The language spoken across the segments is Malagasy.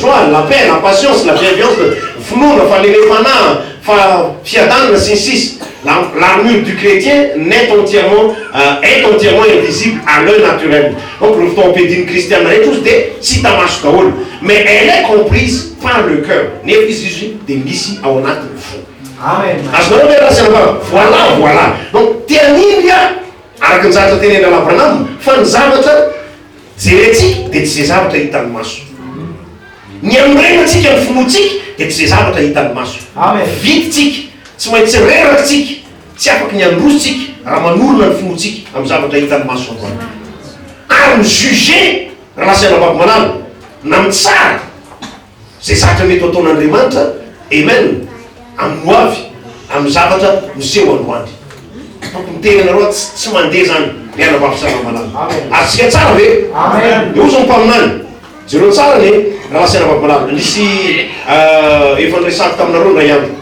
Joie, la paix, la patience, la bienveance, finoana, fanenefanaha, fa fiadanana, sy ny sisa La l'armure du chrétien n'est entièrement est entièrement invisible à l'oeil naturel Donc reo fitaovana ampiadin'ny kristiana rehetra ozy dia tsy hita maso daholo Mais elle est comprise par le cœur Nefa izy izy dia misy ao anatin'ny fo Azonareo ve raha asiana vava? Voilà, voilà Donc te hanindry aho, araka ny zavatra tenenin-dRalahy Branham, fa ny zavatra Jerentsika dia tsy izay zavatra hitan'ny maso. Ny anorenantsika ny finoantsika dia tsy izay zavatra hitan'ny maso. Vidintsika, tsy maintsy reraka isika, tsy afaky ny handroso isika raha manorina ny finoantsika amin'ny zavatra hitan'ny maso androany. Ary mi-juger raha lasa ianabavy malala na mitsara. Izay zavatra mety ho ataon'Andriamanitra, Amen, amin'ny hoavy, amin'ny zavatra miseho androany. Tokony teny anareo ato, tsy tsy mandeha zany ry anabavy sy ranamalala. Azontsika tsara ve? Amen. Eo zao mpaminany. Jereo tsara ny rahalahy sy anabavy malala. Nisy ah, efa niresahako taminareo indray andro.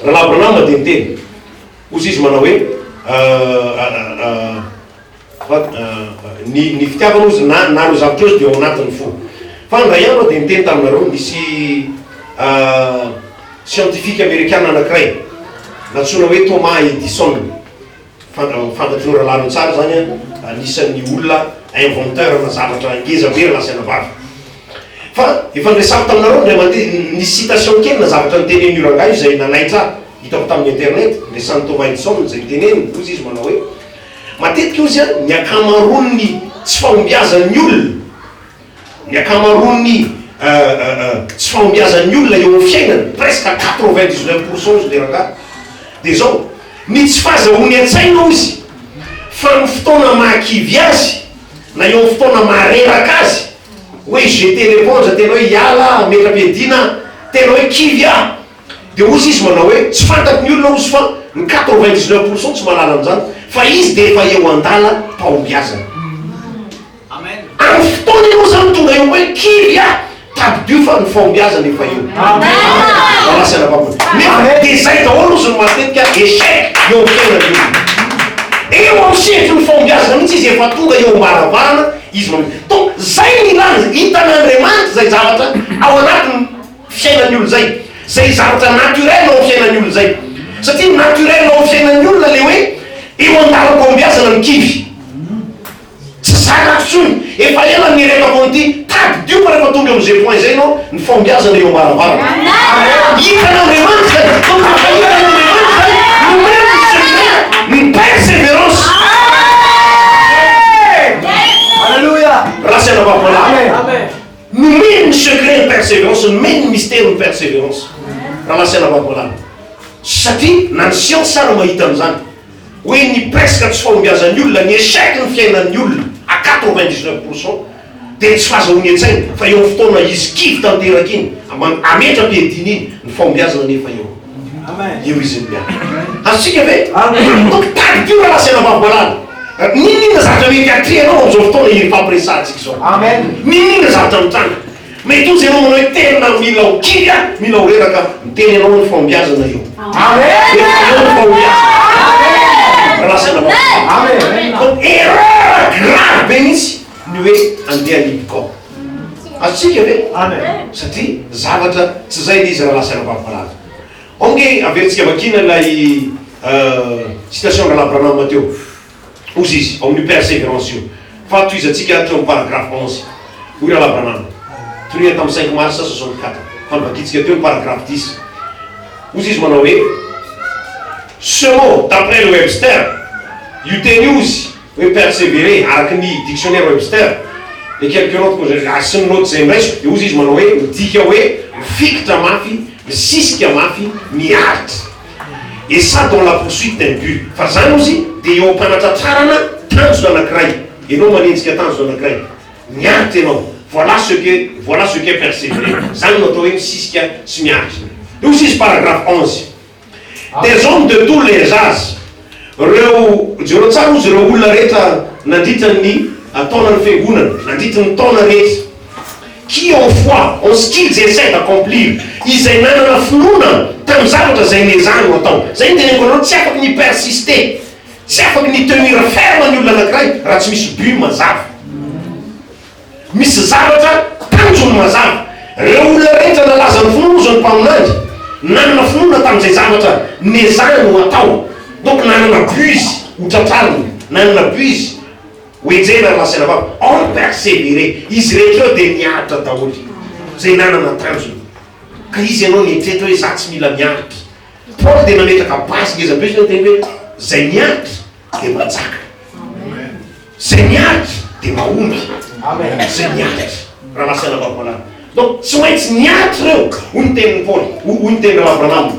Rahalahy Branham dia niteny. Hozy izy manao hoe ah, ah, ah, ah, Ny ny fitiavana ozy na na ireo zavatra ozy dia ao anatin' ny fo. Fa indray andro aho dia niteny taminareo, nisy siantifika amerikana anankiray nantsoina hoe Thomas Edison, fantatry ny rahalahy ireo tsara izany an, anisan' ny olona inventeur na zavatra ngeza be rahalahy sy anabavy. Fa efa niresahako taminareo indray mandeha, nisy citation kely na zavatra nitenenin' io rangahy io izay nanaitra ahy, hitako tamin' ny internet, niresahan' i Thomas Edison izay niteneniny, hoy izy manao hoe, Matetika hoy izy ny ankamaroan'ny tsy fahombiazan'ny olona, ny ankamaroan'ny tsy fahombiazan'ny olona eo amin'ny fiainana, presque quatre vingt dix neuf pour cent hozy le rangahy, dia izao, ny tsy fahazahoany an-tsaina hozy fa amin'ny fotoana mahakivy azy na eo amin'ny fotoana mahareraka azy hoe je te repondre tena hoe hiala aho, hametra-piadiana aho, tena hoe kivy aho, Dia hoy izy manao hoe, tsy fantatro ny olona hozy fa ny quatre-vingt dix neuf pourcent tsy mahalala an'izany fa izy dia efa eo an-dala pahombiazana. Amin'ny fotoana ianao izany tonga eo hoe kivy aho, tadidio fa ny fahombiazana efa eo. Malasy anabavona. Nefa dia izay daholo hozy no matetika échec eo amin'ny fiainan'ny olona. Eo amin'ny sehatry ny fahombiazana mihitsy izy efa tonga eo am-baravarana izy manao. Donc izay no ilana, hitan'Andriamanitra izay zavatra ao anatiny. fiainan'ny olona izay, izay zavatra naturel ao amin'ny fiainan'ny olona izay, satria naturel ao amin'ny fiainan'ny olona ilay hoe eo an-dalam-pahombiazana ny kivy, tsy zakako intsony, efa ela nieretako an'ity, tadidio fa rehefa tonga amin'izay point izay ianao, ny fahombiazana eo am-baravarana, ary hitan' Andriamanitra izany, fa mba efa hitan' Andriamanitra izany, nomeny ny seminaire ny perseverance, Amen! Alléluia! Raha tsy anabavy malala. Amen! Nomeny ny secret ny perseverance, nomeny ny mystère ny perseverance raha lasa lavaboalana. Satria na ny siansa ary mahita an'izany hoe ny presque tsy fahombiazan'ny olona, ny échec ny fiainan'ny olona à quatre vingt dix neuf pour cent dia tsy fahazahoany an-tsaina fa eo amin'ny fotoana izy kivy tanteraka iny, aman, ametra-piadiana iny ny fahombiazana nefa eo. Io izy io miala. Azontsika ve? Tokony tadidio raha lazaina fa voalala. N'inon'inona zavatra mety atrehinao amin'izao fotoana iry fampiresahantsika izao. Amen. N'inon'inona zavatra mitranga. Mety ho ianao manao hoe tena mila ho kivy aho, mila ho reraka aho. Ny tena ianao ny fahombiazana eo. Amen. Efa eo ny fahombiazana. Raha lazaina fa voalala. Amen. Donc erreur grave be mihitsy ny hoe andeha any Ibgao. Azontsika ve? Amen. Satria zavatra tsy izay ilay izy rahalahy sy anabavy malaza. Ange averintsika vakina ilay citation Rahalahy Branham teo. Hozy izy, ao amin'io Perseverance io, fahatohizantsika hatreo amin'ny paragraphe onze. Hoy Rahalahy Branham, Toniany tamin'ny cinq mars soixante quatre, fa novakintsika teo ny paragraphe dix. Hozy izy manao hoe, Ce mot, d'après le Webster, io teny io, hozy, hoe perseverer, araka ny dictionnaire Webster, les quelques notes que j'ai, ary sy ny naoty izay indraisiko, dia hozy izy manao hoe, midika hoe mifikitra mafy, misisika mafy, miaritra. Et ça dans la poursuite d'un but. Fa izany hozy dia eo am-panatratrarana tanjona anankiray, ianao manenjika tanjona anankiray, miaritra ianao, voilà ce que, voilà ce qu'est perseverer, izany no atao hoe misisika sy miaritra. Dia hozy izy, paragraphe onze. Des hommes de tous les âges reo, jereo tsara ozy reo olona rehetra nandritra ny taona ny fiangonana, nandritry ny taona rehetra, qui ont foi en ce qu'ils essaient d'accomplir, izay nanana finoana tamin'ny zavatra izay nezahanao atao, zay ny teneniko anao, tsy afaka ny persister, tsy afaka ny tenir ferme ny olona anakiray raha tsy misy but mazava. Misy zavatra tanjony mazava. Ireo olona rehetra nalaza ny finoana izao ny mpaminany nanana finoana tamin'izay zavatra nezahany ho atao. Donc nanana but izy ho tratrarina, nanana but izy ho enjehina ary lasaina vava. Or perseverer. Izy rehetra ireo dia niaritra daholo izay nanana tanjony. Ka iza ianao nieritreritra hoe za tsy mila miaritra. Paoly dia nametraka base ngeza be izy hoe niteny hoe izay miaritra. dia manjaka. Zay miaritra dia mahomby. Zay miaritra. Raha nasaina vakomanana. Donc tsy maintsy miaritra ireo, hoy ny tenin'i Paoly, hoy ny tenin'i Raha Branham.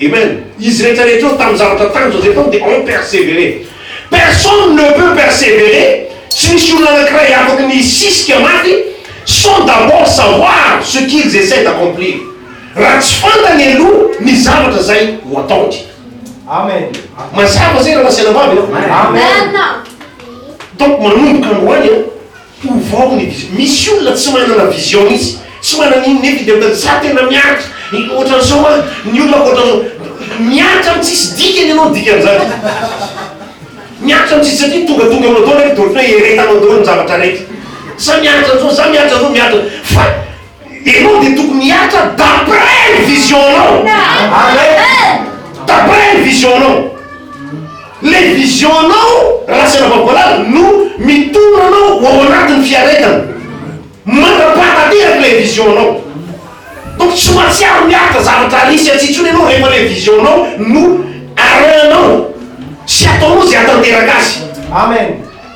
Amen. Izy rehetra rehetra eo tamin'ny zavatra tanjona izay tao dia on persévérer. Personne ne peut persévérer, tsy misy olona anankiray afaka ny hisisika maty sans d'abord savoir ce qu'ils essaient d'accomplir. Raha tsy fantany aloha ny zavatra izay ho ataony. Amen. Mazava zay raha zala vavy ianao. Amen. Donc manomboka androany an, ovao ny vision. Misy olona tsy manana vision mihitsy, tsy manana inona nefa indray mandeha za tena mianatra, ohatran'izao an, ny olona ohatran'izao. Mianatra amin'ny tsisy dikany ianao ny dikan'izany. Mianatra amin'ny tsisy satria tongatonga aminao daholo rehefa dia ohatran'ny hoe eretanao daholo ny zavatra rehetra. Za mianatra an'izao, za mianatra an'izao, mianatra fa. Ianao dia tokony hihatra d'après ny vision-nao. Amen. D'après ny vision-nao. Le vision-nao raha tsy anavako valala no mitondra anao ho ao anatin'ny fiaretana. Mandrapaha tanteraka ilay vision-nao. Donc tsy mahatsiaro miaritra zavatra risy atsy intsony ianao rehefa le vision-nao no arahinao sy ataonao izay hahatanteraka azy. Amen.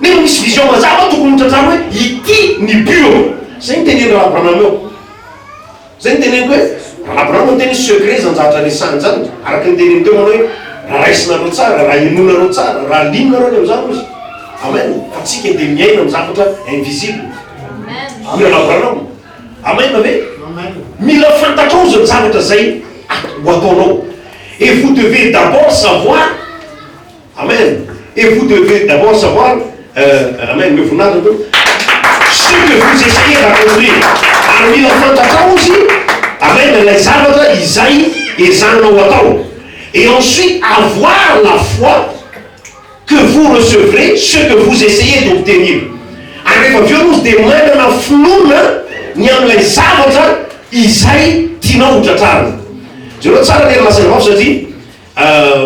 Nefa misy vision mazava tokony ho tratrarina hoe ity ny but ô. Zay no tenen'i Rabranam eo. Zay no teneniko hoe Rabranam no miteny hoe secret zany zavatra resahiny zany. Araka ny teneniny teo manao hoe raha raisinareo tsara, raha henoinareo tsara, raha lininareo any amin'izany hozy. Amen. Fa tsika dia miaina amin'ny zavatra invisible. Mila Rabranam. Amen ve? Mila fantatrao zany zavatra zay ho ataonao. Et vous devez d'abord savoir Amen et vous devez d'abord savoir euh, amen omeo voninahitra tompoko ce que vous essayez d'accomplir ary mila fantatrao izy amen ilay zavatra izay ezahanao atao et ensuite avoir la foi que vous recevrez ce que vous essayez d'obtenir ary rehefa avy eo aloha dia manana finoana ny amin'ilay zavatra izay tianao ho tratrarina jereo tsara ny masina vavy satria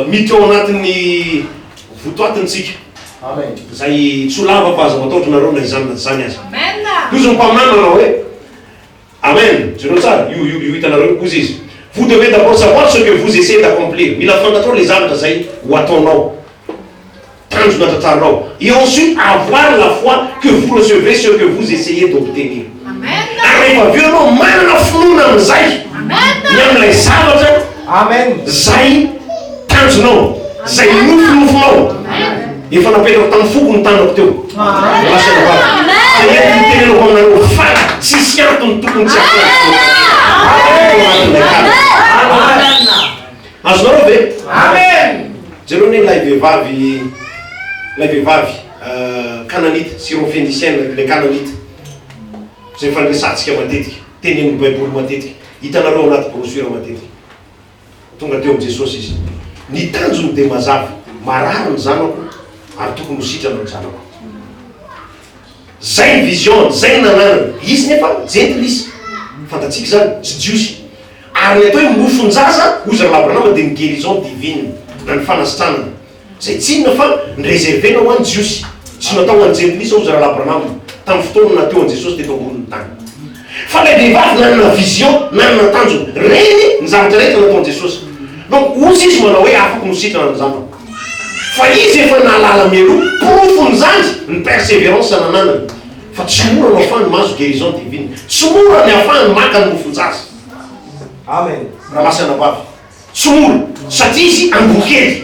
Miditra ao anatin'ny votoatintsika izay tsy ho lava fa aza matahotra nareo na izany na tsy izany aza. Hozy ny mpaminany manao hoe, Amen! Jereo tsara io, io, io hitanareo io. Hozy izy, Vous devez d'abord savoir ce que vous essayez d'accomplir. Mila fantatrao ilay zavatra izay ho ataonao. Tanjona tantaranao. Et ensuite avoir la foi que vous recevrez ce que vous essayez d'obtenir. Ary rehefa avy eo ianao manana finoana amin'izay, ny amin'ilay zavatra izay tanjonao, izay nofinofinao. Efa napetrako tamin'ny foko ny tanako teo. Hoy lahy sy anabavy, izay entiny tenenako aminareo, fa tsisy antony tokony tsy hataon'ny finoana. Tao anatin'ilay tanjona. Azonareo ve? Amen! Jereo anie ilay vehivavy, ilay vehivavy Kananita, Syro-Fenisiana, ilay Kananita, izay fandresantsika matetika, tenenin'ny Baiboly matetika, hitanareo ao anaty brochure matetika. Tonga teo amin'i Jesosy izy. Ny tanjony dia mazava, Marary ny zanako, ary tokony ho sitrana ny zanako. Zay ny vision-ny, zay ny nananany. Izy nefa Jentily izy, fantatsika izany, tsy Jiosy. Ary ny atao hoe mofon-jaza, hoy zareo Abrahama, dia ny guérison divine, na ny fanasitranana. Izay tsy inona fa ny reserver-na ho an'ny Jiosy. Tsy natao ho an'ny Jentilisa, hoy zareo Abrahama, tamin'ny fotoana nateo an'i Jesosy teto ambonin'ny tany. Fa ilay vehivavy nanana vision, nanana tanjona. Reny ny zavatra rehetra nataon'i Jesosy. Donc, hozy izy manao hoe, Afaka ho nositrana ny zanako. Fa izy efa nahalala mialoha. Porofon'izany ny perseverance nananany. Fa tsy mora no afahany mahazo guérison divine. Tsy mora ny afahany maka ny mofon-jaza. Amen. Ramasana vavy. Tsy mora. Satria izy angoa kely.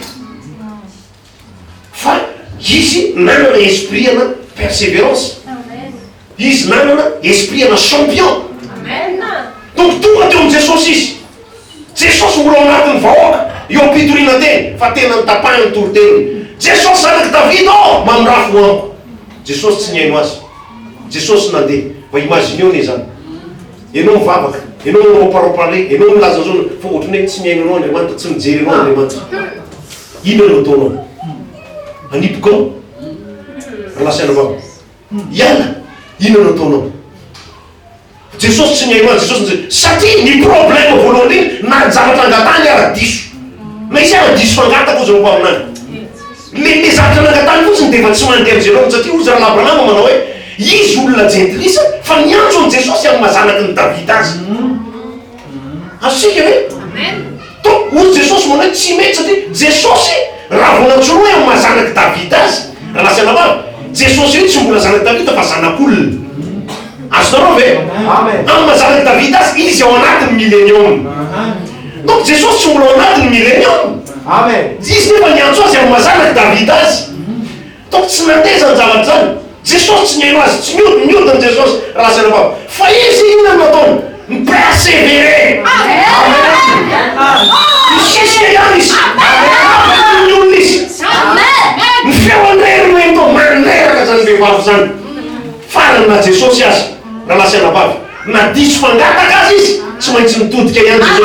Fa izy nanana esprit ana perseverance. Izy nanana esprit ana champion. Donc tonga teo amin'i Jesosy izy. Jesosy mbola ao anatin'ny vahoaka, eo am-pitoriana teny, fa tena notapahiny ny toriteniny. Jesosy zanak'i Davida ô! Mamirafy ho amiko. Jesosy tsy nihaino azy. Jesosy nandeha. Mba imagineo anie izany. Ianao mivavaka, ianao miroparopa an'le, ianao milaza zao, fa ohatran'ny hoe tsy mihaino anao Andriamanitra, tsy mijery anao Andriamanitra. Inona no ataonao? Anipoko ao? Ry lahy sy anabavy. Iana, inona no ataonao? Jesosy tsy nihainoany Jesosy nje satria ny problème voalohany indrindra na ny zavatra angatahany ara diso. Misy ara diso fangata koa zao mpaminany. Le le zavatra nangatahany fotsiny dia efa tsy mandeha amin'izay anao satria hoy Zalahy Branham manao hoe izy olona jentilisa fa niantso an'i Jesosy amin'ny maha zanaky ny Davida azy. Azontsika ve? Donc, hoy Jesosy manao hoe tsy mety satria Jesosy raha vao nantsoina hoe amin'ny maha zanak'i Davida azy, Ranasy Anabavy, Jesosy io tsy mbola zanak'i Davida fa zanak'olona. Azonareo ve? Amin'ny maha zanak'i Davida azy, izy ao anatin'ny milenioma. Donc Jesosy tsy mbola ao anatin'ny milenioma. Izy nefa niantso azy amin'ny maha zanak'i Davida azy. Toa tsy nateza ny zavatra izany Jesosy, tsy nihaino Azy, tsy niodina, niodina Jesosy raha asana vava, fa Izy inona no nataony? Ni-perseverer! Amen! Nisisika ihany Izy, nandravaka toy ny olona Izy. Ny feony irery no heno toa mandreraka izany vehivavy izany. Farany na Jesosy aza, raha nasana vava, na diso mangataka Azy Izy, tsy maintsy nitodika ihany Jesosy.